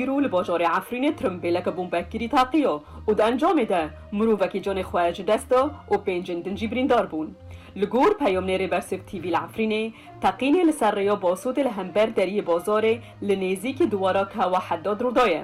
Îro li bajarê Efrînê tirimbêleke bombekirî teqîyo û di encamê de mirovekî canê xwe ji dest da û pêncên din jî birîndar bûn. Li gor peyomnêrê Bersif TV li Efrînê, teqînê li ser rêya Basotê li hember deriyê bazarê li nêzîkî diwara Kawa Heddad rûdaye.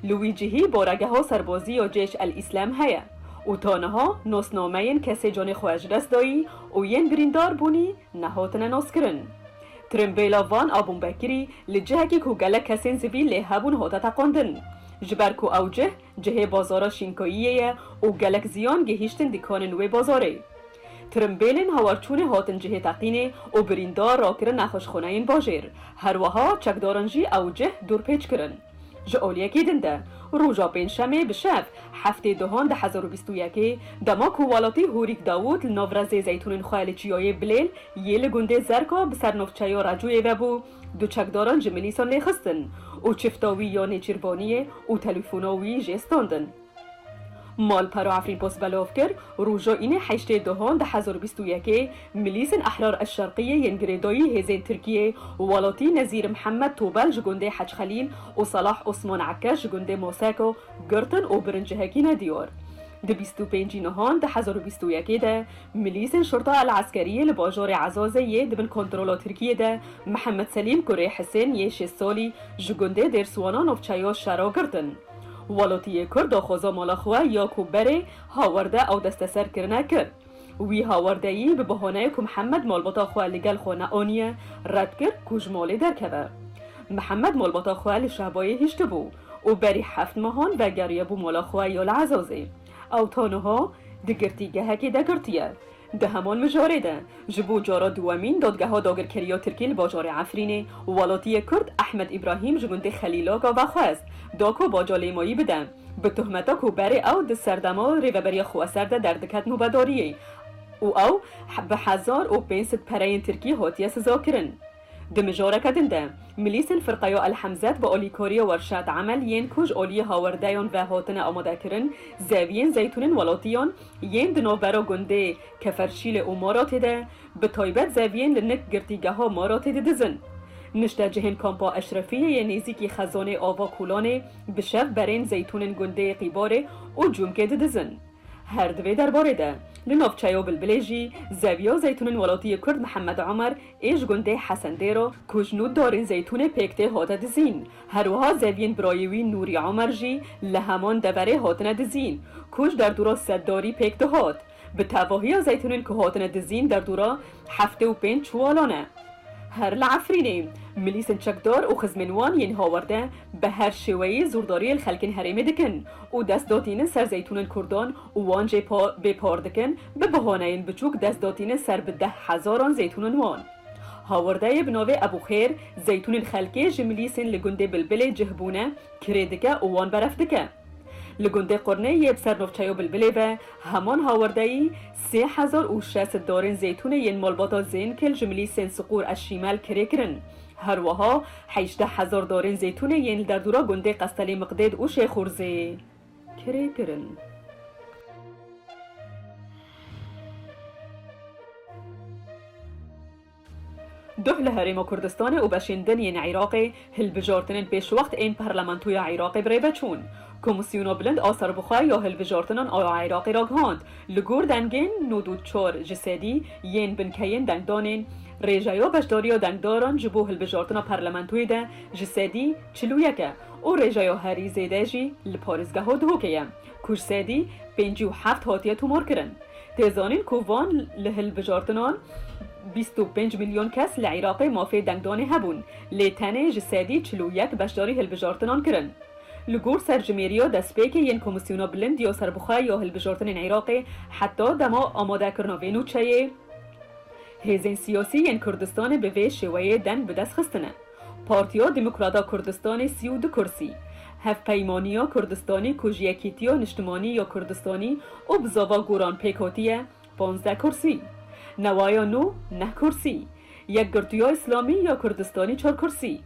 Li wî cihî baregeha serbazî ya Cêş El Îslem heye û ta niha nasnameyên kesê canê xwe ji dest dayî û yên birîndar bûnî Naho tine naskirin. Tirimbêla van a Bombekirî li cihekî ku gelek kesên sivîl lê hebûn hate teqandin. Ji ber ku ew cih, cihê bazara Şînkayiyê ye û gelek ziyan gihîştin dîkanên wê bazarê. Tirimbêlên hawarçûnê hatin cihê teqînê û birîndar rakirin nexweşxaneyên bajêr. Her wiha çekdaran jî ew cih dûrpêç kirin. Ji oliyekî din de, roja pêncşemê bi şev, heftê duhan di hezar û bîst û yekê, dema ku welatî Hûrîk Dawût li nav rezê zeytûnên xwe li çiyayê Bilêl yê li gundê Zerka bi ser navçeya Recûyê vebû, du çekdaran ji milîsan lê xistin û çifta wî ya Nêçîrbaniyê û telefona wî jê standin. Malpero Efrîmpos belov kir, Rojo Înê heştê Duhon du hezar û bîst û yekê Milîsên Ehrar Eşşerqîyê yên girêdayî hêzên Tirkîyê welatî Nezîr Mihemed Tobel ji gundê Hec Xelîl û Salah Osman Ekkeş ji gundê Moseko girtin û birin cihekîne diyar. Di bîst û pêncî Nihan du hezar û bîst û yekê de Milîsên Şurta El Eskerîyê li bajarê Ezazê yê di bin kontrola Tirkîyê de Mihemed Selîm Kurê Hisên yê şêst salî ji gundê Dêrswana Navçeya Şera girtin. Welotiyê Kurd daxwaza mala xwe ya ku berê hawerde ew desteser kirine kir. Wî hawerdeyî bi bahaneyê ku Mihemed malbata xwe li gel xwe neaniye red kir ku ji malê derkeve. Mihemed malbata xwe li Şehbayê hiştibû û berî heft mehan vegeriyebû mala xwe ya li Ezazê. Ew ta niha di girtîgehekê de girtiye. Di heman mijarê de, ji bo cara duwemîn Dadgeha Dagirkerî ya Tirkî li bajarê Efrînê, welatiyê Kurd Ehmed Îbrahîm ji gundê Xelîlaka ve xwest, da ku baca lêmayî bide, bi tuhmeta ku berê ew di serdema Rêveberiya Xweser de derdiket nûbedariyê û ew bi hezar û pênc sed pereyên Tirkî hatiye sizakirin. Di mijoreke din de, milîsên Firqeyo El Hemzet bi olîkoriyo Werşad Emel yên ku ji oliyê hawerdeyon ve hatine amadekirin, zeviyên zeytûnên welatiyan yên di navbera gundê Keferşîlê û Maratê de, bi taybet zeviyên li nik girtîgeha Maratê didizin. Niştecihên Kampa Eşrefiyê yê nêzîkî xezanê Ava Kûlanê bi şev berên zeytûnên gundê Qîbarê û Cûmkê didizin. Her di vê derbarê de, li navçeyo Bilbilê jî zeviya zeytûnên welatiyê Kurd Mihemed Omer Ê ji gundê Hesendêro ku ji nû darên zeytûnê pêk tê hate dizîn. Her wiha zeviyên birayê wî Nûrî Omer jî li heman deverê hatine dizîn ku ji derdora Seddarî pêk dihat. Bi tevahiya zeytûnên ku hatine dizîn derdora heftê û pênc çiwalan e. Her li Efrînê milîsên çekdar û xizmên wan yên hawerde bi her şêweyê zordariyê li xelkên herêmê dikin û dest datînin ser zeytûnên kurdan û wan jê bê par dikin Bi bihoneyên biçûk dest dotîne ser bi deh hezaran zeytûnên wan. Hawardeyê bi navê Ebûxêr, zeytûnên xelkê ji milîsên li gundê Bilbilê cih bûne, kirê dike û wan beref dike. Li gundê Qurnê yê bi ser navçeya Bilbilê ve, heman hawardeyî sê hezar û şeş sed darên zeytûnê yên malbata Zênkil ji milîsên Siqûr Eşîmel kirê kirin. Her wiha hejdeh hezar darên zeytûnê yên li derdora gundê Qestelê Miqdêd û Şêxûrzê. kirê kirin. Duh li Herêma Kurdistanê û beşên din yên Îraqê hilbijartinên pêşwext ên Parlamentoya Îraqê bi rê ve çûn. Komîsyona Bilind a Serbixwe ya Hilbijartinan a Îraqê ragihand, li gor dengên nod û çar ji sedî yên binkeyên dengdanên, rêjeya beşdariya dengdaran ji bo hilbijartina parlamentoyê de ji sedî çil û yek e. û rêjeyo herî zêde jî li parêzgeho Duhokê ye ku ji sedî pêncî û heft hatiye tomarkirin. Tê zanîn ku van li hilbijartinan bîst û pênc milyon kes li Iraqê mafê dengdanê hebûn, lê tenê ji sedî çil û yek beşdarî hilbijartinan kirin. Li gor serjimêriya destpêkê yên Komîsyona Bilind ya Serbixwe ya Hilbijartinên Iraqê heta dema amadekirina vê nûçeyê hêzên siyasî yên Kurdistanê bi vê şêweyê deng bi dest xistine. Partiya Demokrata Kurdistanê sî û du kursî, Hevpeymaniya Kurdistanê ku ji Yekîtiya Niştimanî ya Kurdistanî û bi zava Goran pêk hatiye, panzdeh kursî, Newaya Nû neh kursî, Yekgirtuya Îslamî ya Kurdistanî çar kursî,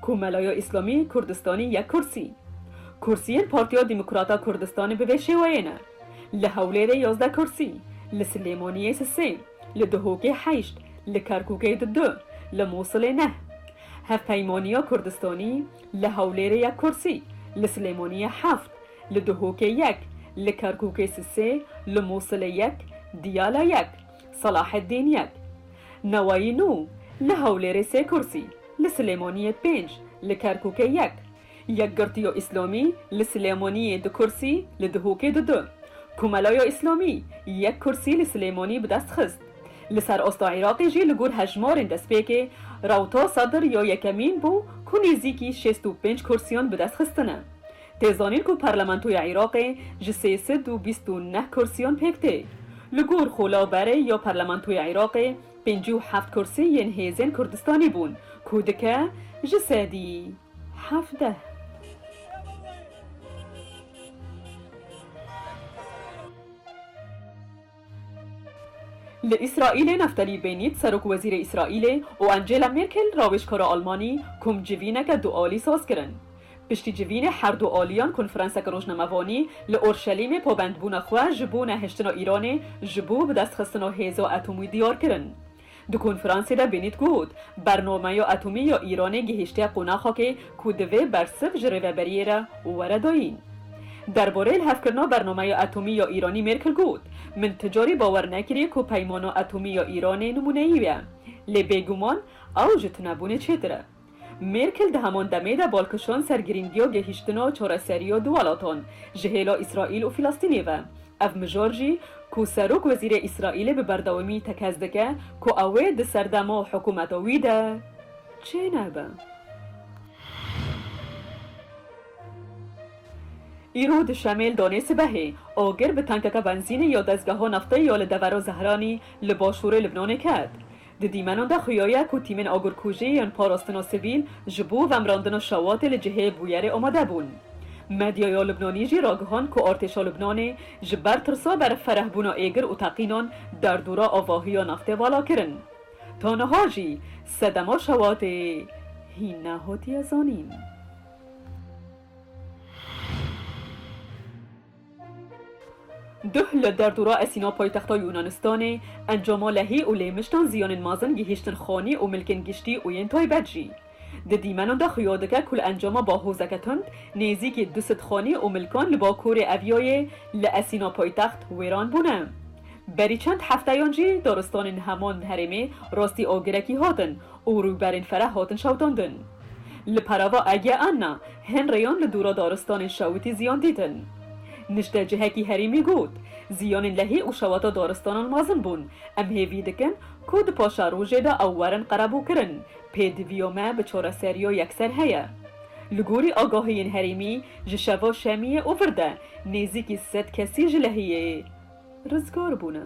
Komelaya Îslamî Kurdistanî yek kursî. Kursiyên Partiya Demokrata Kurdistanê bi vê şêweyê ne, li Hewlêrê yazdeh kursî, li Silêmaniyê sisê. Li Dihokê heşt, li Kerkûkê di du, li Mûsilê neh. Hevpeymaniya Kurdistanî li Hewlêrê ya kursî, li Silêmaniyê heft, li Dihokê yek, li Kerkûkê si sê, li Mûsilê yek, Diyala yek, Selaheddîn yek. Newayî nû, li Hewlêrê sê kursî, li Silêmaniyê pênc, li Kerkûkê yek. Yekgirtiyo Îslamî li Silêmaniyê du kursî, li Dihokê du du. Komelayo Îslamî yek kursî li Silêmanî bi dest xist. Li ser asta Iraqê jî li gor hejmarên destpêkê, rewta Sadr ya yekemîn bû ku nêzîkî şêst û pênc kursiyan bi dest xistine. Tê zanîn ku Parlamentoya Iraqê ji sê sed û bîst û neh kursiyan pêk tê. Li gor Xola Berê ya Parlamentoya Iraqê pêncî û heft kursî yên hêzên Kurdistanê bûn ku dike ji sedî. hevdeh. Li Îsraîlê Neftalî Bênît serokwezîrê Îsraîlê û Angela Mêrkel rawêjkara Almanî kom civîneke du alî saz kirin. Piştî civînê her du aliyan konferanseke rojnamevanî li Orşelîmê pabendbûna xwe ji bo nehiştina Îranê ji bo bidestxistina hêza etomî diyar kirin. Di konferansê de Bennett got, Bernameya atomî ya Îranê gihîştiye qonaxekê ku divê bersiv ji Rêveberiyê re were dayîn. Derbarê lihevkirina Bernameya Atomî ya Îranî Mêrkel got, Min ti carî bawer nekiriye ku Peymana Atomî ya Îranê nimûneyî ye. Lê bêguman ew ji tunebûnê çêtir e. Mêrkel di heman demê de bal kişand ser girîngiya gehîştina çareseriya du welatan ji hêla Îsraîl û Filistînê ve. Ev mijar jî ku Serok Wezîrê Îsraîlê bi berdewamî tekez dike ku ew ê di serdema hikûmeta wî de çê nebe. Îro di Şemêl danê sibehê, agir bi tankeke benzînê ya dezgeha nefteyê ya li devera Zehranî li başûrê Libnanê ket. Di dîmenan de xuyaye ku tîmên agirkujî yên parastina sivîl ji bo vemrandina şewatê li cihê bûyerê amade bûn. Medyaya Lubnanî jî ragihand ku artêşa Lubnanê ji ber tirsa berfirehbûna êgir û teqînan derdora avahiya naftê vala kirin. Ta niha jî sedema şewatê hîn nehatiye zanîn. Duh li derdora Esîna paytexta Yûnanistanê, encama lehî û lêmiştan ziyanên mezin gihîştin xanî û milkên giştî û yên taybet jî. Di dîmenan de xuya dike ku li encama bahozeke tund nêzîkî du sed xanî û milkan li bakurê Evyayê li Esîna paytext wêran bûne. Berî çend hefteyan jî daristanên heman herêmê rastî agirekî hatin û rûberên fereh hatin şewitandin. Li perava Ege Anna, Hin rêyan li dûra daristanên şewitî ziyan dîtin. Niştecihekî herêmê got, Ziyanên lehî û şewata daristanan mezin bûn. Em hêvî dikin ku di paşa rojê de ew werin qerebûkirin. Pêdiviya me bi çareseriya yekser heye. Li gorî agahiyên herêmî ji şeva şemiyê û vir de nêzîkî sed kesî ji lehiyê rizgar bûne.